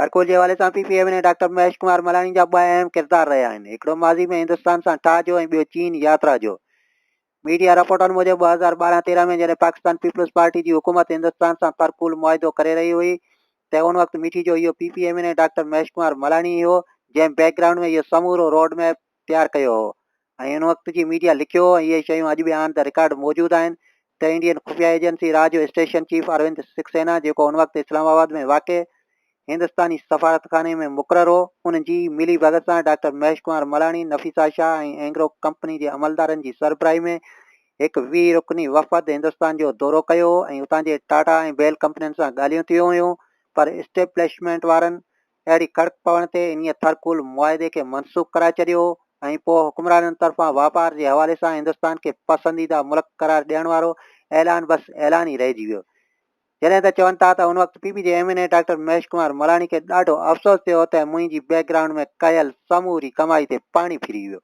ٿرڪول جي حوالي سان P P M N A doctor Mahesh Kumar Malani جا ٻه اهم ڪردار رهيا آهن هڪڙو ماضي ۾ هندستان سان ٺاهه جو ۽ ٻيو چين ياترا جو ميڊيا رپورٽن موجب ٻه هزار ٻارهن تيرهن ۾ جڏهن پاڪستان پيپلز پارٽي جي حڪومت هندستان سان ٿرڪول معاهدو ڪري رهي هئي ته ان وقت مٺي جو اهو P P M N A doctor Mahesh Kumar Malani ئي هو جنهن بيڪ گرائونڊ ۾ اهو سمورو روڊ ميپ تيار ڪيو هو ۽ ان وقت جي ميڊيا لکيو هو ۽ اهي شيون اڄ به آن دي رڪارڊ موجود آهن ته انڊين خفيه ايجنسي را جو اسٽيشن چيف اروند سڪسينا جيڪو ان وقت اسلام آباد ۾ واقع هندستاني سفارتخاني ۾ مقرر هو ان جي ملي ڀڳت سان ڊاڪٽر مهيش ڪمار ملاڻي نفيسا شاهه ۽ اينگرو ڪمپني جي عملدارن جي سربراهي ۾ هڪ ويهه رڪني وفد هندستان جو دورو ڪيو هو ۽ اتان جي ٽاٽا ۽ بيل ڪمپنين سان ڳالهيون ٿيون هيون پر اسٽيبلشمينٽ وارن اهڙي ڪڙڪ پوڻ تي انهيء ٿرڪول معاهدي کي منسوخ ڪرائي ڇڏيو ۽ پوء حڪمرانن طرفان واپار جي حوالي سان هندستان کي پسنديده ملڪ قرار ڏيڻ وارو اعلان بس اعلان ئي رهجي ويو. جڏهن ته چون ٿا ته ان وقت P P G M N A doctor Mahesh Kumar Malani کي ڏاڍو افسوس ٿيو ته منهنجي بيڪ گرائونڊ ۾ ڪيل سموري ڪمائي تي پاڻي ڦري ويو.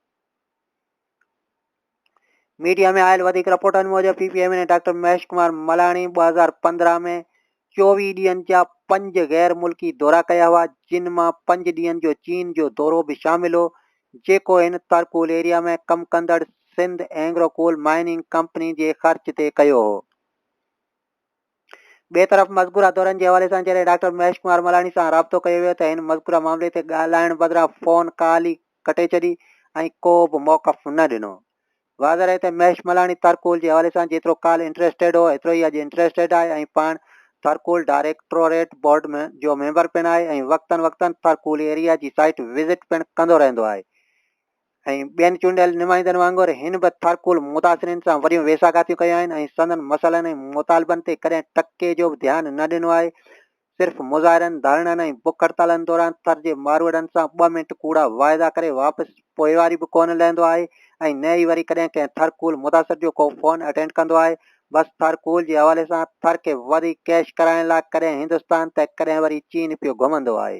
ميڊيا ۾ آيل وڌيڪ رپورٽن موجب P P M N A doctor Mahesh Kumar Malani ٻه هزار پندرهن ۾ چوويهه ڏينهن جا پنج غير ملڪي دورا ڪيا هئا جن مان پنج ڏينهن جو چين جو دورو به شامل هو جيڪو هن ترڪول ايريا ۾ ڪم ڪندڙ Sindh Engro coal mining company جي خرچ تي ڪيو هو. ٻئي طرف مذڪوره دورن جي حوالي سان جڏهن ڊاڪٽر مهيش ڪمار ملاڻي سان رابطو ڪيو ويو ته هن مذڪوره معاملي تي ڳالهائڻ بدران فون ڪال ئي ڪٽي ڇڏي ۽ ڪو به موقف نه ڏنو. واضح رهي ته مهيش ملاڻي ٿرڪول جي حوالي سان جيترو ڪالهه انٽريسٽيڊ هو ايترو ئي اڄ انٽريسٽيڊ آهي ۽ پاڻ ٿرڪول ڊائريڪٽوريٽ بورڊ جو ميمبر پڻ آهي ۽ وقتن وقتن ٿرڪول ايريا جي سائيٽ وزٽ پڻ ڪندو رهندو آهي. ۽ ٻين چونڊيل نمائندن وانگر هن به ٿرڪول متاثرين سان وڏيون ويساهگاتيون ڪيون آهن ۽ سندن مسئلن ۽ مطالبن تي ڪڏهن ٽڪي جو به ڌيان نه ڏنو آهي. صرف مظاهرن، ڌرڻن ۽ بک هڙتالن دوران ٿر جي ماروئڙن سان ٻه منٽ ڪوڙا واعدا ڪري واپس پوئواري به ڪونه لهندو آهي ۽ نه ئي وري ڪڏهن ڪنهن ٿرڪول متاثر جو ڪو فون اٽينڊ ڪندو آهي. بس ٿرڪول جي حوالي سان ٿر کي وڌيڪ ڪئش ڪرائڻ لاء ڪڏهن هندستان ته ڪڏهن وري چين پيو گهمندو آهي.